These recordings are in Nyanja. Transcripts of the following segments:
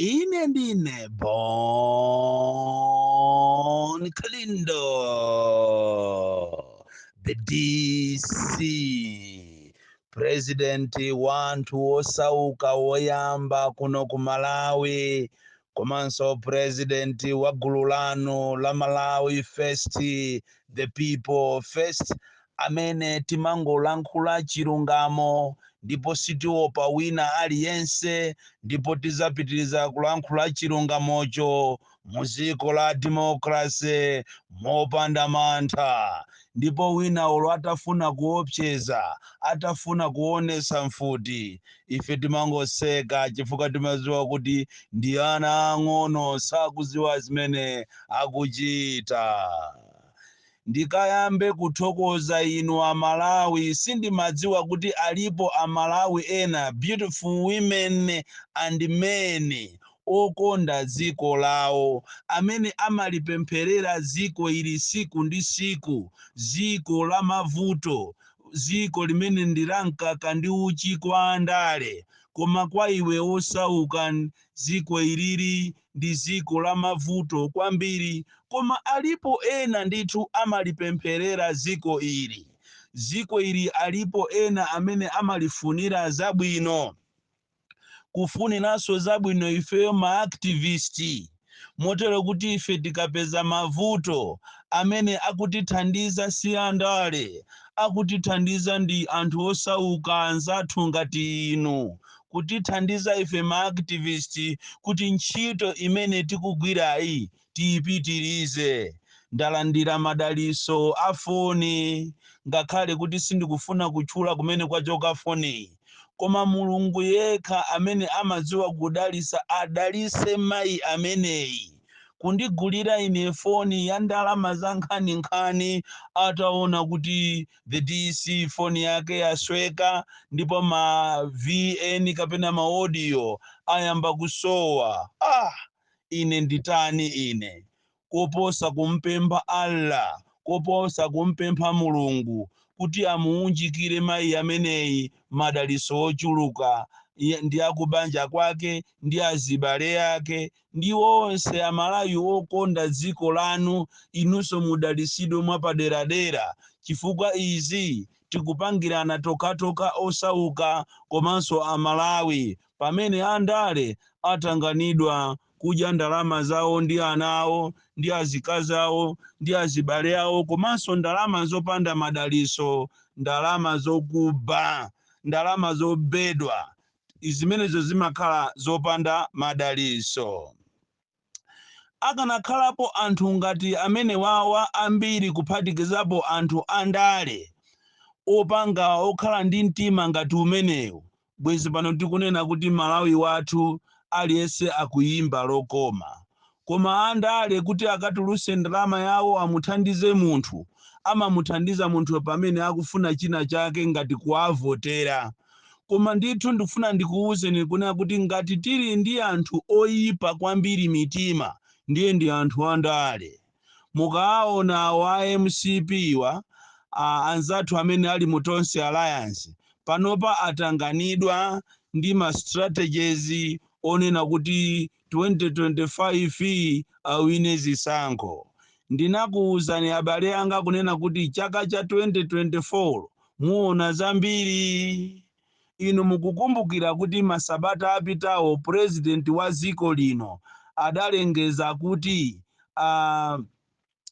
Ine ndine Bon Kalindo, the DC, presidenti wa anthu osauka woyamba kuno ku Malawi, komanso presidenti wa gulu lanu la Malawi First, the people first, amene timangolankhula chilungamo ndipo sitiopa wina aliyense ndipo tizapitiliza kulankhula chilungamocho muziko la democracy mopanda mantha ndipo wina olo atafuna kuopseza atafuna kuonesa mfuti ife timangoseka chifukwa timaziwa kuti ndi ana ang'ono sakuziwa zimene akuchita. ndikayambe kuthokoza inu a Malawi sindimadziwa kuti alipo a Malawi ena beautiful women and men okonda dziko lawo amene amalipempherera dziko ili tsiku ndi tsiku dziko la mavuto dziko limene ndi la mkaka ndi uchi kwa andale koma kwa iwe osauka dziko ilili ndi dziko la mavuto kwambiri koma alipo ena ndithu amalipempherera dziko ili dziko ili alipo ena amene amalifunira zabwino kufuniranso zabwino ifeyo maaktivisti motero kuti ife tikapeza mavuto amene akutithandiza si andale akutithandiza ndi anthu osauka anzathu ngati inu kutithandiza ife ma activist kuti ntchito imene tikugwirayi tiipitirize. Ndalandira madalitso a foni, ngakhale kuti sindikufuna kutchula kumene kwachoka foniyi. Koma Mulungu yekha amene amadziwa kudalitsa adalitse mayi ameneyi kundigulira ine foni ya ndalama zankhaninkhani ataona kuti the dc foni yake yasweka ndipo ma vn kapena ma audio ayamba kusowa ah ine ndi ndani ine koposa kumpempha allah koposa kumpempha mulungu kuti amuunjikire mayi ameneyi madaliso ochuluka Iye ndi akubanja kwake ndi azibale ake ndi onse amalawi okonda dziko lanu inunso mudalisidwe mwapaderadera chifukwa izi tikupangirana tokatoka osauka komanso amalawi pamene andale atanganidwa kudya ndalama zawo ndi ana awo ndi azikazi awo ndi azibale awo komanso ndalama zopanda madaliso ndalama zokuba ndalama zobedwa zimenezo zimakhala zopanda madalitso. Akanakhalapo anthu ngati amenewawa ambiri kuphatikizapo anthu andale opanga okhala ndi mtima ngati umenewu, bwenzi pano tikunena kuti Malawi wathu aliyense akuimba lokoma. Koma andale kuti akatuluse ndalama yawo amuthandize munthu, amamuthandiza munthuyo pamene akufuna china chake ngati kuwavotera. Koma ndithu ndikufuna ndikuwuzeni kunena kuti ngati tili ndi anthu oyipa kwambiri mitima ndiye ndi anthu andale. Mukawawona awo a mcp wa, a anzathu amene ali mu Tonse Alliance, panopa atanganidwa ndi ma strategies onena kuti 2025 awine zisankho. Ndinakuuzani abale anga kunena kuti chaka cha 2024 muona zambiri. Inu mukukumbukira kuti masabata apitawo president wa dziko lino adalengeza kuti a.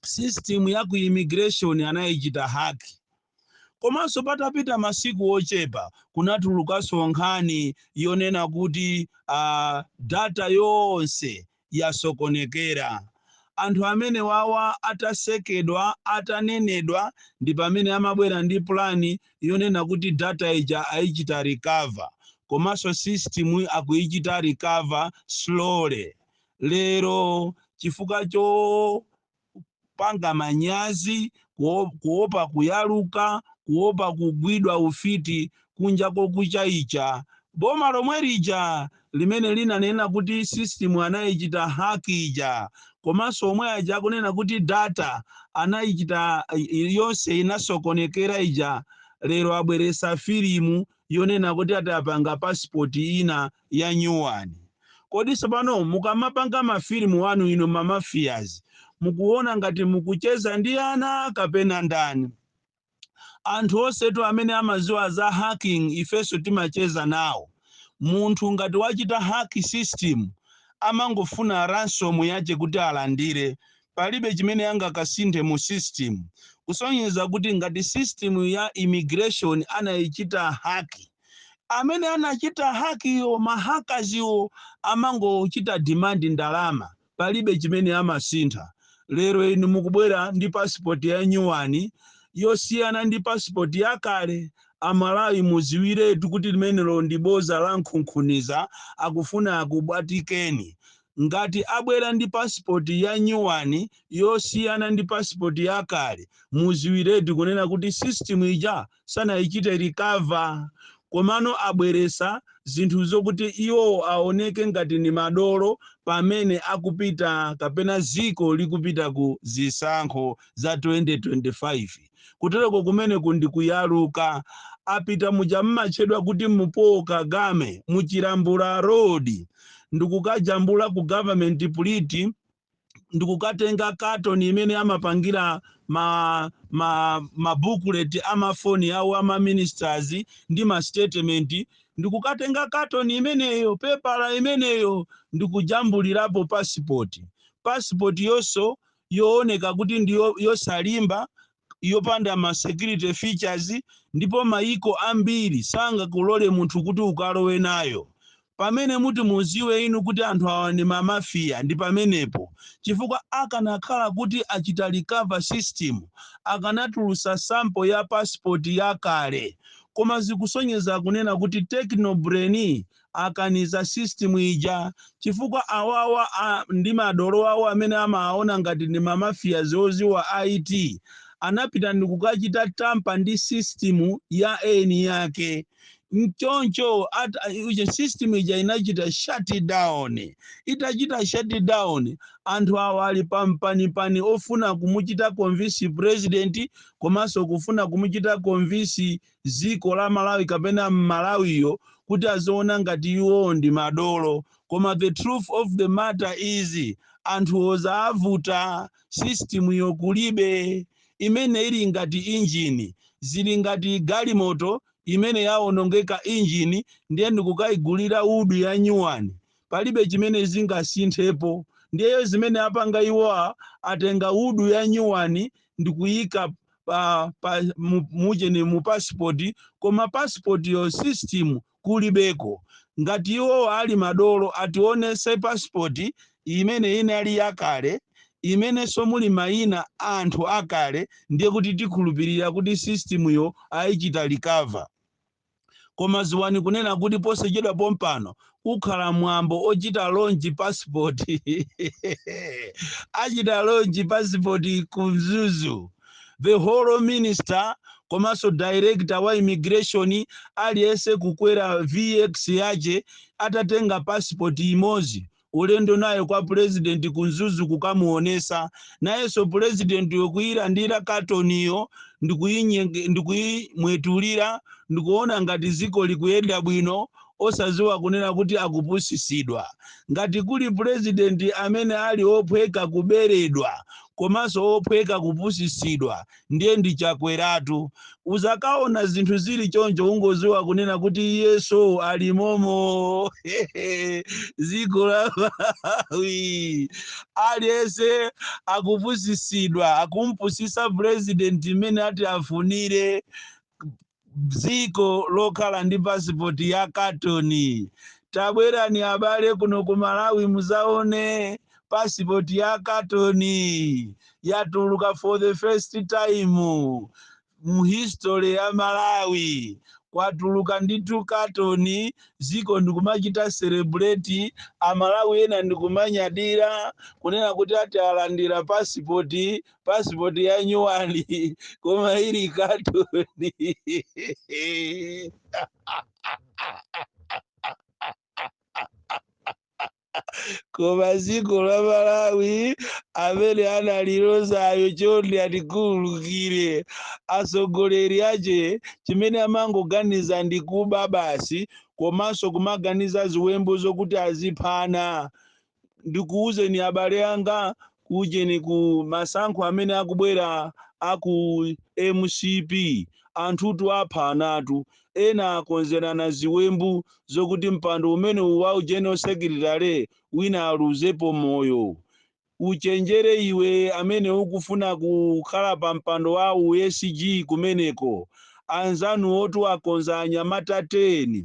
system ya ku immigration anayichita hack komanso patapita masiku ochepa kunatulukanso nkhani yonena kuti uh, data yonse yasokonekera anthu amenewawa atasekedwa atanenedwa ndi pamene amabwera ndi plani yonena kuti data ija ayichita recover komanso system akuyichita recover slowly lero chifukwa chopanga manyazi kuo- kuopa kuyaluka kuopa kugwidwa ufiti kunja kokucha icha boma lomwe lija limene linanena kuti system anayichita hack ija komanso omwe aja akunena kuti data anayichita i- yonse inasokonekera ija lero abweretsa filimu yonena kuti ati apanga pasipoti ina yanyuwani. Kodi sopano mukamapanga ma film anu inu ma mafias mukuwona ngati mukucheza ndi ana kapena ndani? Anthu onsetu amene amaziwa za hacking ifenso timacheza nawo. Munthu ngati wachita hack system amangofuna ransom yache kuti alandire. Palibe chimene angakasinthe mu system. Kusonyeza kuti ngati system ya immigration anayichita hack. amene anachita hakiyo mahakaziwo amangochita demand ndalama palibe chimene amasintha lero inu mukubwera ndi passport ya nyuwani yosiyana ndi passport yakale amalawi muziwiretu kuti limenelo ndi boza la nkhunkhuniza akufuna akubwatikeni ngati abwera ndi passport ya nyuwani yosiyana ndi passport yakale muziwiretu kunena kuti system ija sanayichite recover komano abweresa zinthu zokuti iwowo aoneke ngati ni madolo pamene akupita kapena ziko likupita ku zisankho za 2025 kutereko kumeneko ndi kuyaluka apita muja mmatchedwa kuti mupoka gama muchilambula road ndikukajambula ku government print ndikukatenga katoni imeneyo amapangira ma ma mabukuleti amafoni awo ama ministers ndi ma statement ndikukatenga katoni imeneyo pepala imeneyo ndikujambulirapo pasipoti pasipoti yonso yooneka kuti ndi yo- yosalimba yopanda ma security features ndipo mayiko ambiri sangakulole munthu kuti ukalowe nayo. Pamene muti muziwe inu kuti anthu awa ndi ma mafia ndi pamenepo chifukwa akanakhala kuti achita recover system akanatulusa sample ya passport yakale koma zikusonyeza kunena kuti Techno Brain akaniza system ija chifukwa awawa ndi madolo awo amene amawaona ngati ndi ma mafias oziwa IT anapita ndikukachita tamper ndi system ya eni yake mchoncho at uje system ija inachita shut down itachita shut down anthu awa ali pampanipani ofuna kumuchita convince president komanso kufuna kumuchita convince dziko la Malawi kapena m'Malawiyo kuti aziona ngati iwowo ndi madolo koma the truth of the matter is anthuwo zaavuta system yo kulibe imene ili ngati engine zili ngati galimoto imene yaonongeka engine ndiye ndikukayigulira hood ya nyuwani palibe chimene zingasinthepo ndiye zimene apanga iwowa atenga hood ya nyuwani ndikuyika pa, pa mu- mujeni mu passport koma passport yo system kulibeko ngati iwowa ali madolo ationese passport imene inali yakale imenenso muli mayina a anthu akale ndiye kuti tikhulupirira kuti system yo ayichita recover koma ziwani kunena kuti posachedwa pompano kukhala mwambo ochita launch passport achita launch passport ku mzuzu the whole minister komanso director wa immigration aliyense kukwera vx yache atatenga passport imodzi ulendo nayo kwa pulezidenti ku mzuzu kukamuonesa nayenso pulezidentiyo kuyilandira katoniyo ndikuyinyenge- ndikuyimwetulira ndikuona ngati ziko likuyenda bwino osaziwa kunena kuti akupusisidwa ngati kuli pulezidenti amene ali ophweka kuberedwa komanso ophweka kupusisidwa ndiye ndi chakweratu uzakaona zinthu zili choncho ungoziwa kunena kuti iyenso ali momo ziko la malawi aliyese akupusisidwa akumupusisa president mmene ati afunire dziko lokhala ndi pasipoti ya katoni tabwerani abale kuno ku malawi muzaone pasipoti ya katoni yatuluka for the first time mu history ya malawi kwatuluka ndithu katoni ziko ndikumachita celebrate amalawi ena ndikumanyadira kunena kuti ati alandira pasipoti passport ya nyuwani koma ili katoni koma dziko la malawi amene analilozayo chonde atikhululukire atsogoleri ache chimene amangoganiza ndi kuba basi komanso kumaganiza ziwembu zokuti aziphana ndikuwuzeni abale anga ku ujeni ku masankho amene akubwera aku mcp anthutu apha anatu ena akonzerana ziwembu zokuti mpando umene wa u general secretary wina aluzepo moyo uchenjere iwe amene ukufuna kukhala pa mpando wa u sg kumeneko anzanuwotu akonza anyamata 10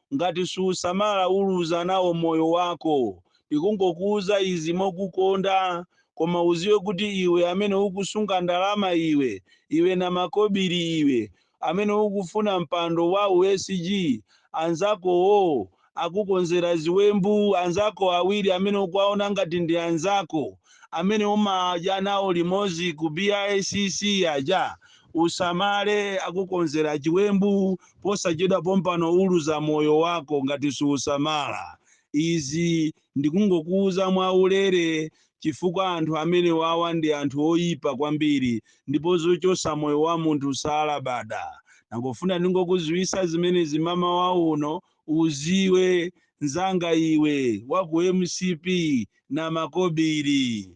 ngati suusamala uluza nawo moyo wako. Ndikungokuuza izi mokukonda koma uziwe kuti iwe amene ukusunga ndalama iwe iwe namakobili iwe amene ukufuna mpando wa u SG anzakowo akukonzera ziwembu anzako awiri amene ukuwaona ngati ndi anzako amene umadya nawo limozi ku BICC aja usamale akukonzera chiwembu posachedwa pompano uluza moyo wako ngati suusamala. Izi ndikungokuuza mwa ulere chifukwa anthu amenewawa ndi anthu oyipa kwambiri ndipo zochosa moyo wa munthu salabada. Nangofuna ndingokuziwisa zimenezi mmamawa uno uziwe nzanga iwe wa ku mcp namakobili.